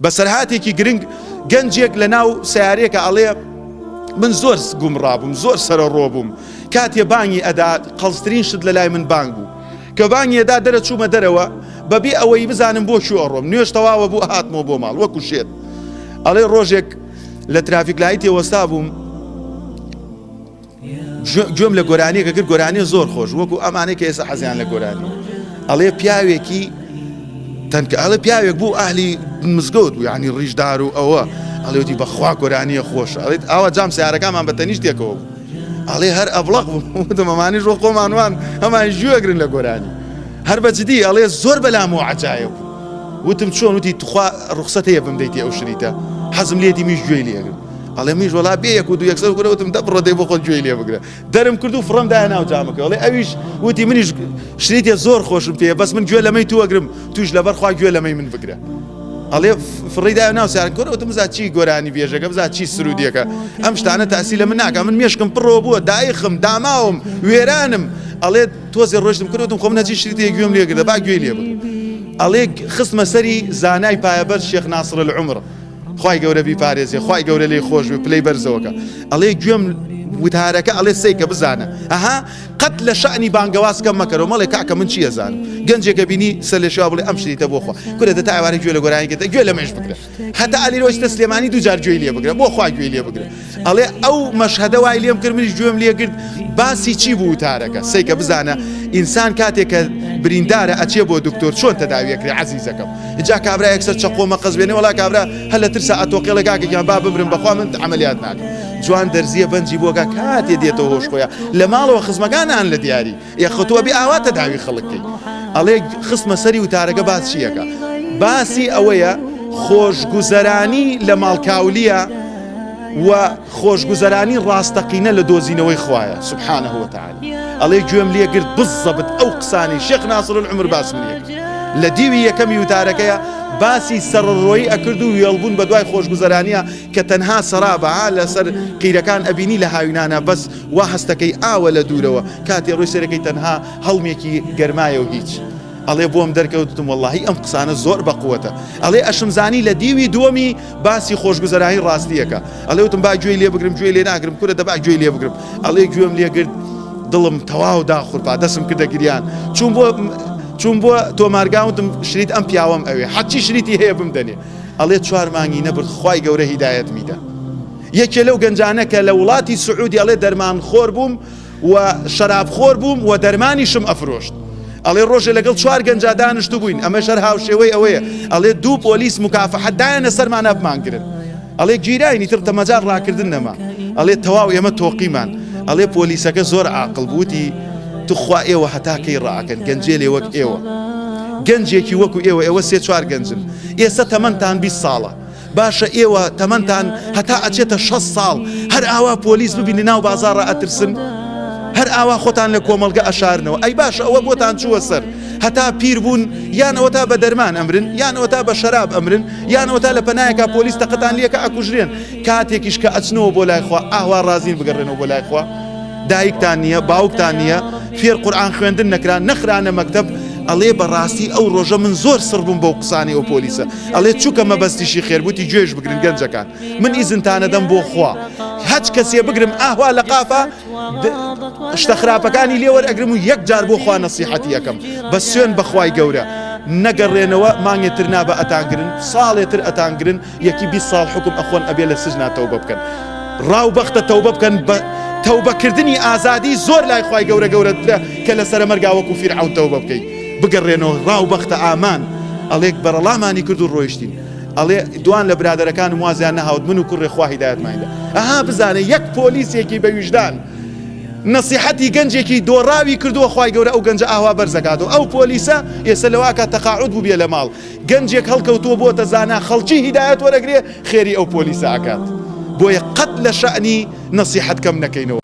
بەسەرهاتێکی گرنگ گەنجێک لە ناو سەیارەیەکە ئەڵێ من زۆر گومڕابووم زۆر سەرەڕۆ بووم کاتێ بانگی ئەدا قەڵزترین شت لە لای من بانگ بوو کە بانگێدا دەرە چوومە دەرەوە بەبێ ئەوەی بزانم بۆ شو ئەڕۆم نوێش تەواوە بوو هاتمەوە بۆ ماڵ وەکو شێت ئەڵێ ڕۆژێک لە ترافیک لایتێ وەستا بووم گوێم لە گۆرانیەکە کرد گۆرانیە زۆر خۆش وەکو ئەمانەی کە ئێستا حەزیان لە گۆرانی ئەڵێ پیاوێکی تەنکە ئەڵێ پیاوێک بوو ئاهلی مزگەوت بوو ینی ڕیژدار و ئەوە ئەڵێوتی بەخوا گۆرانیە خۆش ئەڵێت ئاوا جام سیارەکانمان بە تەنیشتێکەوە بوو ئەڵێ هەر ئەبڵق بوومەمانی ڕۆ خۆمانوان هەمان ژوەگرن لە گۆرانی هەر بەجددی ئەڵێ زۆر بەلام و عجاە بوو وتم چۆن وتی تخوا ڕخسەت هەیە بمدەیتی ئەو شریتە حەزم لێتی میش گوێی لێگرن ئەڵێ منیش وەڵا بێ یەک و دوو یەکسەر گورە وتم دەبڕە دەی بۆ خۆت گوێی لێ بگرە دەرم کرد و فڕم دایە ناو جامەکە ئەڵێ ئەویش وتی منیش شریتێ زۆر خۆشم پێ بەس من گوێ لەمەی تو وەگرم توش لەبەر خوا گوێ لەمەی من بگرە ئەڵێ فڕیدا ناو سار گۆرە وتم بزا چی گۆرانی بێژەکە بزا چی سرودیەکە ئەم شتانە تاسی لە من ناکە من مێشکم پڕەوە بووە دایخم داماوم وێرانم ئەڵێ تۆزی ڕۆشتم کردوتم خۆم نەچی شتی گوێم لێگرە با گوێ لێ بگرم ئەڵێ خستمە سەری زانای پایەبەر شێخ ناسرە لە عمرە خوای گەورە بیپارێزێ خوای گەورە لێی خۆش بێ پلەی بەرزەوەکە ئەڵێ گوێم وتارەکە ئەڵێ سیکە بزانە ئەها قەت لە شانی بانگەواز کەم مەکەەوە مەڵێ کاکە من چیە زانم گەنجێکە بینی سە لە شا بڵێ ئەم شتیتە بۆخوا کورە دە تاوارە گوێ لە گۆرانیکە گوێ لە مێش بکرێت هەتا ئەلی رۆشتە سلێمانی دوجار گوێی لێ بگرە بۆ خوا گوێی لێ بگرە ئەڵێ ئەو مەشهەدە وای لێم کرد منیش گوێم لێگرت باسی چی بوو وتارەکە سەیکە بزانە ئینسان کاتێک کە بریندارە ئەچێ بۆ دکتۆر چۆن تەداویەکری عزیزەکەم جا کابرا یەکسەر چەقۆ مەقەز بێنێ وڵا کابرا هەر لە ترسا ئەتۆقێڵە کاکەکیان با بمرم بەخوا من عملیات ناکەم جوان دەرزیە بەنجی بۆگا کاتێ دێتەوە هۆش خۆیان لە ماڵەوە خزمەکانان لە دیاری یاخۆ تۆ ئەبێ ئاوا تەداوی خەڵک کەی ئەڵێ خستمە سەری وتارەکە باس چییەکە باسی ئەوەیە خۆشگوزەرانی لە ماڵکاولیە و خۆشگوزەرانی ڕاستەقینە لە دۆزینەوەی خوایە سبحانە هۆتان ئەڵێ گوێم لێگرت بزەبت ئەو قسانی شێخ ناسرن عمر باسم لێ لە دیوی یەکەمی وتارەکەیە باسی سەرڕۆی ئەکرد و وێڵبوون بە دوای خۆشگوزەرانە کە تەنها سەرابە لەسەر قیرەکان ئەبینی لە هاوینانە بەس وا هەستەکەی ئاوە لە دوورەوە کاتێ ڕۆی سەرەکەی تەنها هەڵمێکی گەرمایەو هیچ ئەڵێ بۆم دەرکەوتتم وەڵاهی ئەم قسانە زۆر بەقوەتە ئەڵێ ئەشم زانی لە دیوی دووەمی باسی خۆشگوزەرانی ڕاستیەکە ئەڵێ وتم با گوێی لێ بگرم گوێ لێ ناگرم کورە دەبا گوێی لێ بگرم ئەڵێ گوێم لێگرت دڵم تەواو داخورپا دەسم کردە گریان چون بۆ چون بۆ تۆمارگاوتم شریت ئەم پیاوەم ئەوێ حەچی شریتی هەیە بم دەنێ ئەڵێ چوار مانگی نەبرد خی گەورە هیدایەت میدە یەکێ لەو گەنجانە کە لە وڵاتی سعودی ئەڵێ دەرمانخۆر بووم و شەرابخۆر بووم و دەرمانیشم ئەفرۆشت. ئەڵێ ڕۆژێ لەگەڵ چوار گەنجا دانشتبووین، ئەمەش هەر هاوشێوەی ئەوەیە، ئەڵێ دوو پۆلیس موکافەحە دایانە سەرمانا بمانگرن. ئەڵێ گیراین ئیتر تە مەجال ڕاکردن نەما. ئەڵێ تەواو ئێمە تۆقیمان. ئەڵێ پۆلیسەکە زۆر عاقڵ بوو وتی، توخوا ئێوە هەتا کەی ڕائەکەن، گەنجێلێ وەک ئێوە، گەنجێکی وەکو ئێوە، ئێوە سێ چوار گەنجن، ئێسە تەمەنتان بیست ساڵە، باشە ئێوە تەمەنتان هەتا ئەچێتە شەست ساڵ هەر ئاوا پۆلیس ببین لەناو بازاڕە ئەترسن؟ هەر ئاوا خۆتان لە کۆمەڵگە ئەشارنەوە ئەی باشە ئەوە بۆتان چووە سەر هەتا پیر بوون یانەوە تا بە دەرمان ئەمرن یانەوە تا بە شەراب ئەمرن یانەوە تا لە پەنایەکە پۆلیس تەقەتان لەکە ئەکوژرێن کاتێکیش کە ئەچنەوە بۆ لایخوا ئاوا ڕازین بگەڕێنەوە بۆ لایخوا دایکتان نییە باوکتان نییە فێر قورآان خوێندن نەکران نەخرانە مەکتب ئەڵێ بەڕاستی ئەو ڕۆژە من زۆر سڕبووم بەو قسانی ئەو پۆلیسە ئەڵێ چوکە مەبەستیشی خێر بوتی گوێش بگرن گەنجەکان من ئیزنتانەدەم بۆ خوا هەچ کەسێ بگرم ئاهوا لە قافە شتە خراپەکانی لێوەر ئەگرم و یەک جار بۆ خوا نەسیحەتی یەکەم بە سوێن بەخوای گەورە نەگەڕێنەوە مانگێ تر نابە ئەتانگرن ساڵێ تر ئەتانگرن یەکی بی ساڵ حکم ئەخۆن ئەبێ لە سژنا تەوبە بکەن ڕاو بەختە تەوبە بکەن بە تەوبەکردنی ئازادی زۆر لای خی گەورە گەورەترە کە لە سەرمەرگاوەکو فیرعون تەوبە بکەیت بگەڕێنەوە ڕاو بەختە ئامان ئەڵێک بەرەڵامانی کرد و ڕۆیشتین ئەڵێ دوان لە برادەرەکانم وازیان نەهاوت من و کوڕێ خوا هیدایەتمان دا ئەها بزانە یەک پۆلیسێکی بە ویژدان نەسیحەتی گەنجێکی دۆڕاوی کردووە خی گەورە ئەو گەنجە ئاوا بەرزەکات و ئەو پۆلیسە ئێستا لەواکە تەقاعود بوو بێ لە ماڵ گەنجێک هەڵکەوتووە بۆ تەزانە خەڵکی هیدایەت وەرەگرێ خێری ئەو پۆلیسە ئەکات بۆیە قەت لە شەعنی نەسیحەت کەم نەکەینەوە